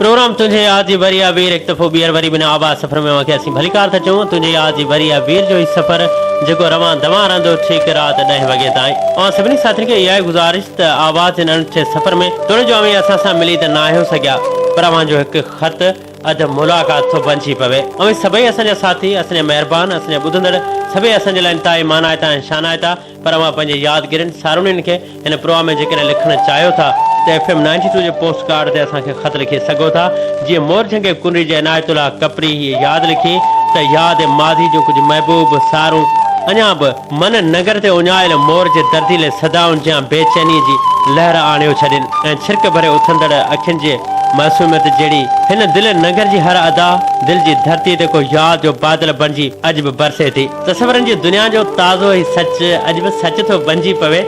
Programme تنهنجي ياد جي وري آ وير هڪ دفعو ٻيهر وري بنا آباد سفر ۾ اوهان کي اسين ڀليڪار ٿا چئون تنهنجي ياد جي وري آ وير جو هي سفر جيڪو روان دوان رهندو ٺيڪ رات ڏهين وڳي تائين اوهان سڀني ساٿين کي اها ئي گذارش ته آواز هن انٺي سفر ۾ توڙي جو اوهين اسان سان ملي ته نه آهيو سگهيا پر اوهان جو هڪ خط اڌ ملاقات ٿو بنجي پوي. اوهين سڀئي اسان جا ساٿي، اسان جا مهربان، اسان جا ٻڌندڙ سڀئي اسان جي لاء انتهائي مانائتا ۽ شانائتا، پر اوهان پنهنجي يادگيرين، ساروڻين کي هن پروگرام ۾ جيڪڏهن لکڻ چاهيو ٿا ته ايف ايم نائنٽي ٽو جي پوسٽ ڪارڊ تي اسان کي خط لکي سگهو ٿا، جيئن مورجهنگي ڪنري جي عنايت الله ڪپري هيء ياد لکي ته ياد ماضي جون ڪجهه محبوب سارون اڃا به. من نگر تي اڃايل مور جي درديلي صدائن جيان بي چينيء جي لهر آڻيو ڇڏين ۽ ڇرڪ ڀري اٿندڙ اکين جي معصوميت جهڙي هن دل نگر جي هر ادا دل جي ڌرتي تي ڪو ياد جو بادل بڻجي اڄ به برسي ٿي. تصورن جي دنيا جو تازو هي سچ اڄ به سچ ٿو بنجي پوي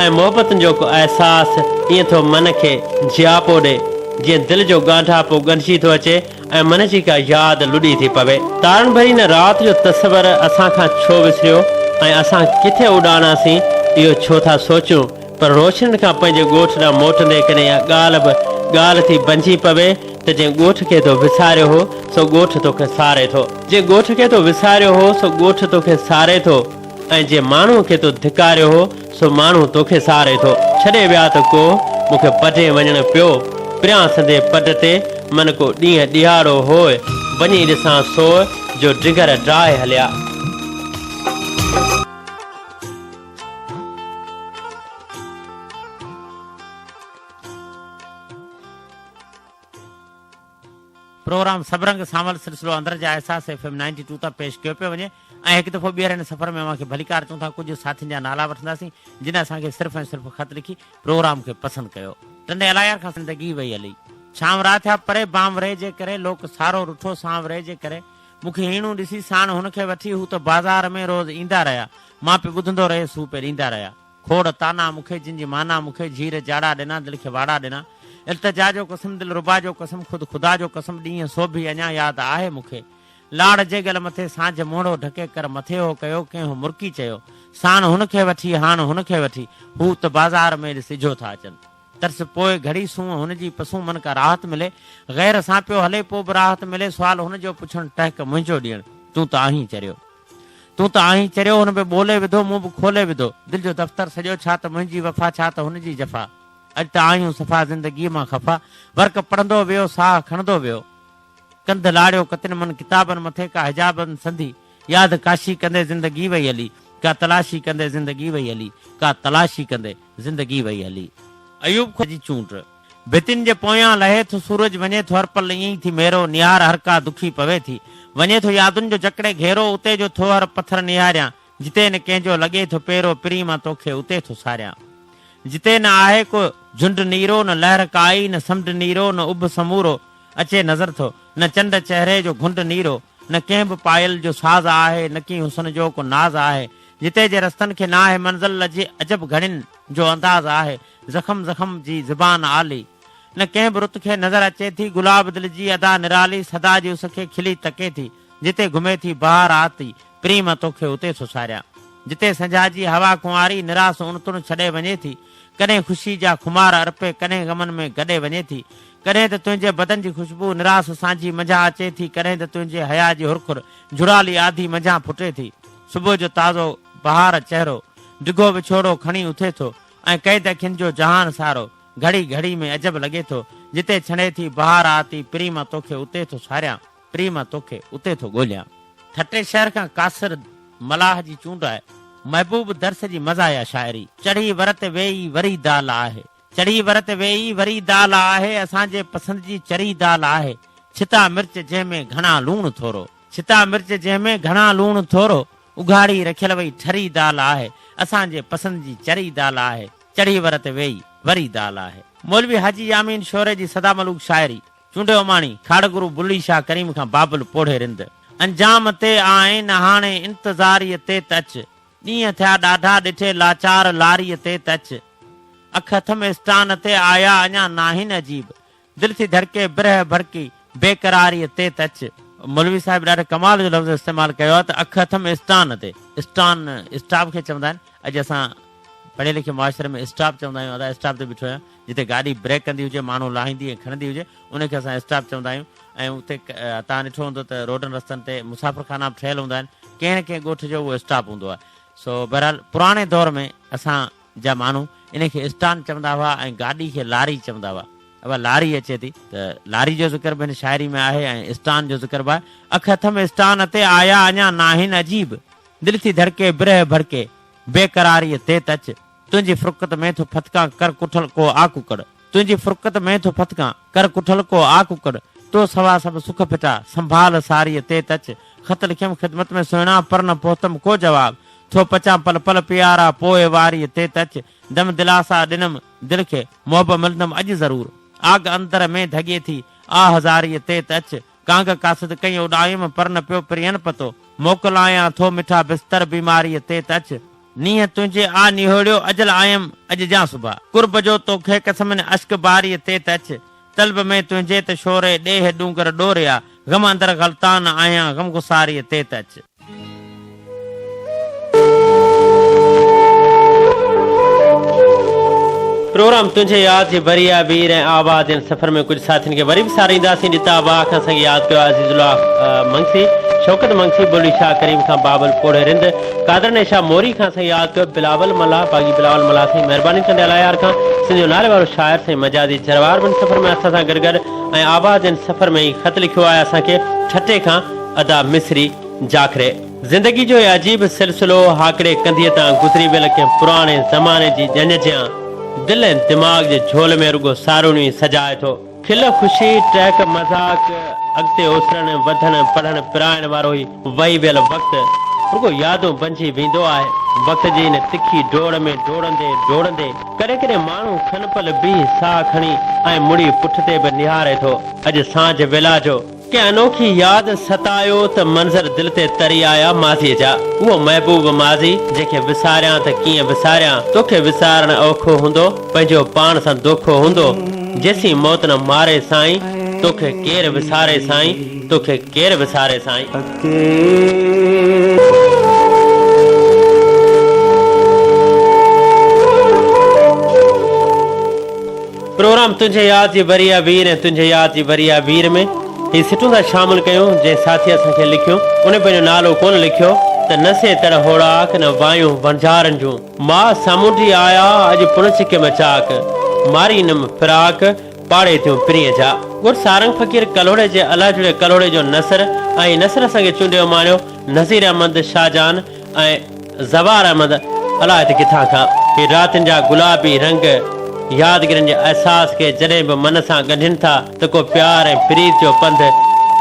۽ محبتن جو ڪو احساس ائين ٿو من کي جياپو ڏي جيئن دل جو ڳانڍاپو ڳنڍجي ٿو اچي ۽ من جي ڪا ياد لڏي ٿي پوي. تارن ڀري ان رات جو تصور اسان کان ڇو وسريو ۽ اسان ڪٿي اڏاڻاسين اهو ڇو ٿا سوچون پر روشنين کان پنهنجي ڳوٺ ڏانهن موٽندي ڪڏهن اها ڳالهه به ڳالهه ٿي بنجي پوي ته جنهن ڳوٺ کي تو وساريو هو سو ڳوٺ توکي ساري ٿو. جنهن ڳوٺ کي تو وساريو هو سو ڳوٺ توکي ساري ٿو ۽ جنهن ماڻهوء کي تو ڌڪاريو هو سو ماڻهو توکي ساري ٿو ڇڏي ويا ته ڪو مون کي پجي وڃڻ پيو پريان سندي پٽ تي من ڪو ڏينهن ڏيهاڙو هوء وڃي ڏسان سوء جو ڊگر ڊاهي هليا. پروگرام سڀ رنگ سانول سلسلو اندر جا احساس ايف ايم نائنٽي ٽو تان پيش ڪيو پيو وڃي. ۽ هڪ دفعو ٻيهر هن سفر ۾ اوهان کي ڀليڪار چئون ٿا ڪجهه ساٿين جا نالا وٺنداسين جن اسان کي صرف ۽ صرف خط لکي پروگرام کي پسند ڪيو ٽنڊي الايار کان زندگي وئي هلي شام را ٿيا پري بام ري جي ڪري لوڪ سارو رٺو سانو ري جي ڪري مون کي هيڻون ڏسي ساڻ هن کي وٺي هو ته بازار ۾ روز ايندا رهيا مان پي ٻڌندو رهيس هو پي ڏيندا رهيا کوڙ طعنا مون کي جن جي معنيٰ مون کي جهير جاڙا ڏنا دل کي واڙا ڏنا التجا جو قسم دلربا جو قسم خود خدا جو قسم ڏينهن سوڀي اڃا ياد آهي مون کي لاڙ جيڳل مٿي سانجهه موڙهو ڍڪي ڪر مٿي هو ڪيو ڪنهن مرڪي چيو ساڻ هن کي وٺي هاڻ هن کي وٺي هو ته بازار ۾ ڏس اجهو ٿا اچن ترس پوء گهڙي سونهن هن جي پسون من ڪا راحت ملي غير سان پيو هلي پوء به راحت ملي سوال هن جو پڇڻ ٽهڪ منهنجو ڏيڻ تون ته آهين چريو تون ته آهين چريو هن به ٻولي وڌو مون به کولي وڌو دل جو دفتر سڄو ڇا ته منهنجي وفا ڇا ته هن جي جفا اڄ ته آهيون صفا زندگيء مان خفا ورق پڙهندو ويو ساهه کڻندو ويو ڪنڌ لاڙيو ڪتن من ڪتابن مٿي ڪا حجابن سندي ياد ڪاشي ڪندي زندگي وئي هلي ڪا تلاشي ڪندي زندگي وئي هلي ڪا تلاشي ڪندي زندگي وئي هلي ايوب خان جي چونڊ ڀتين جي پويان لهي ٿو سورج وڃي ٿو هر پل ائين ئي ٿي ميرو نهار هر ڪا دکي پوي ٿي وڃي ٿو يادن جو جڪڙي گهيرو اتي جو ٿو هر پٿر نهاريان جتي نه ڪنهن جو لڳي ٿو پيرو پرين مان توکي اتي ٿو ساريان جتي نه آهي ڪو جهنڊ نيرو نه لهر ڪائي نه سمنڊ نيرو نه اڀ سمورو اچي نظر ٿو نه چنڊ چهري جو گهنڊ نيرو نه ڪنهن به پايل جو ساز آهي نه ڪي حسن جو ڪو ناز آهي جتي جي رستن کي ناهي منزل لجي عجب گهڙين جو انداز آهي زخم زخم جي زبان آلي نه ڪنهن به رت کي نظر اچي ٿي گلاب دل جي ادا نرالي سدا جي اس کي کلي تڪي ٿي جتي گهمي ٿي بهار آتي پرين مان توکي اتي ٿو ساريان جتي سنجهاء جي هوا ڪنواري نراس اڻ تڻ ڇڏي وڃي ٿي ڪڏهن خوشي جا خمار ارپي ڪڏهن غمن ۾ گڏي وڃي ٿي ڪڏهن ته تنهنجي بدن جي خوشبو نراس سانجهي منجهان اچي ٿي ڪڏهن ته تنهنجي حياء جي هرکر جهڙالي آڌي منجهان ڦٽي ٿي صبح جو تازو بهار چهرو ڊگهو وڇوڙو کڻي اٿي ٿو ۽ قيد اکين جو جهان سارو گهڙي گهڙي ۾ عجب لڳي ٿو جتي ڇنڊي ٿي بهار آتي پرين مان توکي اتي ٿو ساريان. پري مان توکي اتي ٿو ڳوليان. ٺٽي شهر کان قاصر ملاح جي چونڊ آهي. محبوب درس جي مزاحيه شاعري. چڙهي ور تي ويئي وري دال آهي. چڙهي ور تي ويئي وري دال آهي. اسان جي پسند جي چري دال آهي. ڇتا مرچ جنهن ۾ گهڻا لوڻ ٿورو. ڇتا مرچ جنهن ۾ گهڻا لوڻ ٿورو. اگهاڙي رکيل وئي ٺري دال آهي. اسان جي پسند جي چري دال آهي. چڙهي ور تي ويئي وري دال آهي. مولوي حاجي يامين شوري جي سدا ملوڪ شاعري. چونڊي اماڻي، کاڙهگرو بلي شاهه ڪريم کان بابل پوڙهي رند. انجام تي آئين هاڻي انتظاريء تي ته اچ. ڏينهن ٿيا ڏاڍا ڏٺي لاچار لاريء تي ته اچ. اک اٿم اسٽان تي آيا اڃا ناهين عجيب. دل ٿي ڌڙڪي برهه ڀڙڪي بيقراريء تي ته اچ. مولوي صاحب ڏاڍي ڪمال جو لفظ استعمال ڪيو آهي ته اک اٿم اسٽان تي. اسٽان اسٽاپ کي چوندا آهن. اڄ اسان پڙهي لکي معاشري ۾ اسٽاپ چوندا آهيون ادا اسٽاپ تي بيٺو آهيان. جتي گاڏي بريڪ ڪندي هجي، ماڻهو لاهيندي ۽ کڻندي هجي، ان کي اسان اسٽاپ چوندا آهيون ۽ اتي توهان ڏٺو هوندو ته روڊن رستن تي مسافر خانا به ٺهيل هوندا آهن، ڪنهن نه ڪنهن ڳوٺ جو اهو اسٽاپ هوندو آهي. سو بهرحال پراڻي دور ۾ اسان جا ماڻهو ان کي اسٽان چوندا هئا ۽ گاڏي کي لاري چوندا هئا. اها لاري اچي ٿي. ته لاري جو ذڪر به هن شاعري ۾ آهي ۽ اسٽان جو ذڪر به آهي. اک اٿم اسٽان اتي، آيا اڃا ناهن عجيب. دل ٿي ڌڙڪي، برهه ڀڙڪي، بيقراريء تيت اچ. تنهنجي فرقت ۾ ٿو ڦٿڪان ڪر ڪٺل ڪو آ ڪڪڙ تنهنجي فرقت ۾ ٿو ڦٿڪان ڪر ڪٺل ڪو آ ڪڪڙ تو سوا سڀ سک ڦٽا سنڀال ساريء تيت اچ خط لکيم خدمت ۾ سهڻا پر نه پهتم ڪو جواب ٿو پچان پل پل پيارا پوء واريء تيت اچ دم دلاسا ڏنم دل کي محب ملندم اڄ ضرور آگ اندر ۾ ڌڳي ٿي آ هزاريء تيت اچ ڪانگ قاصد ڪئين اڏايم، پر نه پيو پرين پتو. موڪلايان ٿو مٺا بستر بيماريء تي ته اچ. نينهن تنهنجي آ نهوڙيو، اجل آيم اڄ جان صبح. قرب جو تو کي قسمين اشڪ باريء تي ته اچ. طلب ۾ تنهنجي ته شوري، ڏيهه ڏونگر ڏوريا. غم اندر غلطان آهيان، غمگساريء تي ته اچ. پروگرام تنهنجي ياد جي بريا بير ۽ آباد جن سفر ۾ ڪجهه ساٿين کي وري به سارينداسين جتا باغ کان سنگ ياد ڪيو عزيز الله منگسي شوڪت منگسي بلي شاهه ڪريم کان بابل پوڙهي رند قادر ني شاهه موري کان سنگ ياد ڪيو بلاول ملاح باغي بلاول ملاح سائين مهرباني چنڊيا لايار کان سنڌ جو نالي وارو شاعر سائين مجازي جروار بن سفر ۾ اسان سان گڏ گڏ ۽ آباد جن سفر ۾ ئي خط لکيو آهي اسان کي ٺٽي کان ادا مصري جاکري زندگي جو هي عجيب سلسلو هاڪڙي ڪنڌيء تان گذري ويل ڪنهن پراڻي زماني جي ڄڃ جيان دل ۽ دماغ جي جهول ۾ رڳو سارونيون ئي سجائي ٿو. کل خوشي، ٽهڪ مذاق، اڳتي اسرڻ، وڌڻ، پڙهڻ پرائڻ وارو هي وهي ويل وقت رڳو يادون بنجي ويندو آهي. وقت جي ان تکي ڊوڙ ۾ ڊوڙندي ڊوڙندي ڪڏهن ڪڏهن ماڻهو کن پل بيهي ساهه کڻي ۽ مڙي پٺتي به نهاري ٿو. اڄ سانجهه ويلا جو. ڪنهن انوکي ياد ستايو ته منظر دل تي تري آيا ماضيء جا اهو محبوب ماضي جنهن کي وساريان ته ڪيئن وساريان توکي وسارڻ اوکو هوندو پنهنجو پاڻ سان دوکو هوندو جيسين موت نه ماري سائين توکي ڪير وساري سائين توکي ڪير وساري سائين. پروگرام تنهنجي ياد جي وريا وير ۽ تنهنجي ياد جي وريا وير ۾ هي سٽون ٿا شامل ڪيون جنهن ساٿي اسان کي لکيو ان پنهنجو نالو ڪونه لکيو ته نه سي تڙ هوڙاڪ نه وايون وڻجارن جون ماء سامونڊي آيا اڄ پڻ سڪيم چاڪ ماري نم فراق پاڙي تيون پرينء جا ڳڙ سارنگ فقير ڪلهوڙي جي الهه جڙي ڪلهوڙي جو نثر ۽ نثر سنگي چونڊيو ماڻيو نذير احمد شاهجهان ۽ زوار احمد الائي ته ڪٿان کان هي راتين جا گلابي رنگ يادگيرن جي احساس کي جڏهن به من سان ڳنڍين ٿا ته ڪو پيار ۽ پريت جو پنڌ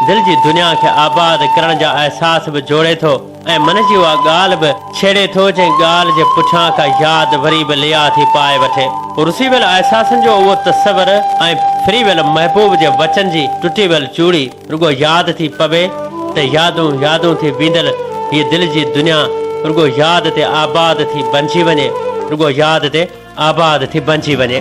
دل جي دنيا کي آباد ڪرڻ جا احساس به جوڙي ٿو ۽ من جي اها ڳالهه به ڇيڙي ٿو جنهن ڳالهه جي پٺيان ڪا ياد وري به ليا ٿي پائي وٺي. رسي ويل احساسن جو اهو تصور ۽ ڦري ويل محبوب جي وچن جي ٽٽي ويل چوڙي، رڳو ياد ٿي پوي ته يادون يادون ٿي بيندل هيء دل جي دنيا رڳو ياد تي آباد ٿي بنجي وڃي رڳو ياد تي آباد ٿي بنجي وڃي.